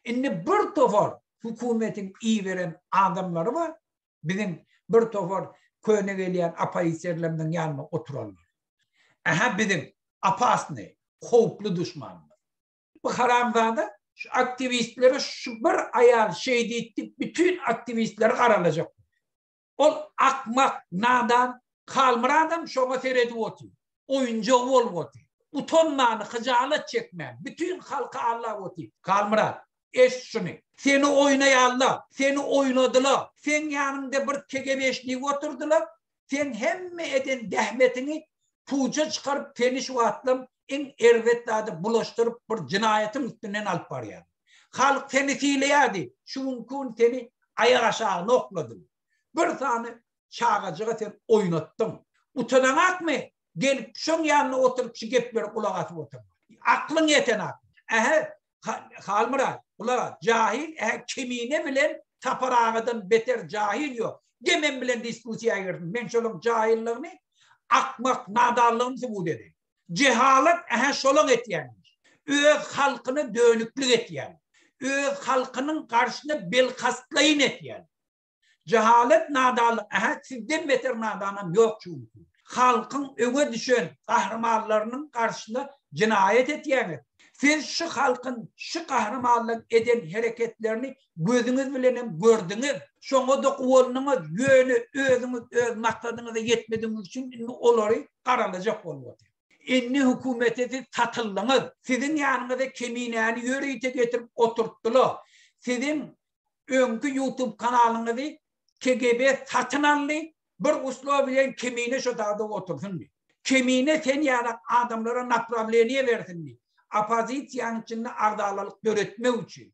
Indi bir topar hökümetiň iberen adamlary bar, biziň bir topar köne gelýän oppoziserlerimiziň ýanynda oturanlar. Ähä biziň opasnyý, howply duşmanymyz. Bu haramzada şu aktiwistlere şu bir aýal şeýditdi, bütin aktiwistleri garalajak. Ol akmak, nadan, Halmyradam şoňa seredip otyr. Oýunjagy bolup otyr. Utanman, hyjalat çekmän, bütin halka allap otyr. Halmyrat, eşit şuny. Seni oýnaýarlar, seni oýnadylar. Seň ýanyňda bir kegebeşnik oturdylar. Sen hemme eden zähmetiňi puja çykaryp, seni şu wagtlam iň erbet zady bulaşdyryp bir jynaýatyň üstünden alyp barýar. Halk seni sylaýardy, şu gün kun seni aýak aşagy nokladym. Bir sany çagajyga sen oýnatdyň. Utanaňakmy? Gelip şoň ýanyna oturyp şu geplere gulak asyp otur. Aklyň ýetenakmy? Ähe, Halmyrat, gulak as, jahil, ähe, Kemine bilen Tapar agadan beter jahil ýok. Gel men bilen diskussiýa girsin, men şolaň jahilligini, akmak, nadanlygyny subut edeýin. Jehalat ähä şolaň etýänmiş. Öz halkyna dönüklik etýän. Öz halkynyň garşyna belkastlaýyn etýän. Jehalat nadanlyk ähä sizden beter nadanam ýok çünki. Halkyň öňe düşen gahrymanlarynyň garşyna jenaýat etýäňiz. Siz şu halkyň şu gahrymanlaryň eden hereketlerini gözüňiz bilen hem gördüňiz. Şoňa-da guwandyňyz, ýöne özüňiz öz maksadyňyza ýetmedigiňiz üçin indi olary garalajak bolup otyr. Indi hökümete siz satyldyňyz. Siziň ýanyňyza Keminäni ýörite getirip oturtdylar. Siziň öňki YouTube kanalyňyzy KGB satyn aldy, bir uslow bilen Kemine şo dagda otursynmy? Kemine sen ýaly adamlara naprawleniýe bersinmi? Oppozisiýanyň içinde agzalalyk döretmek üçin.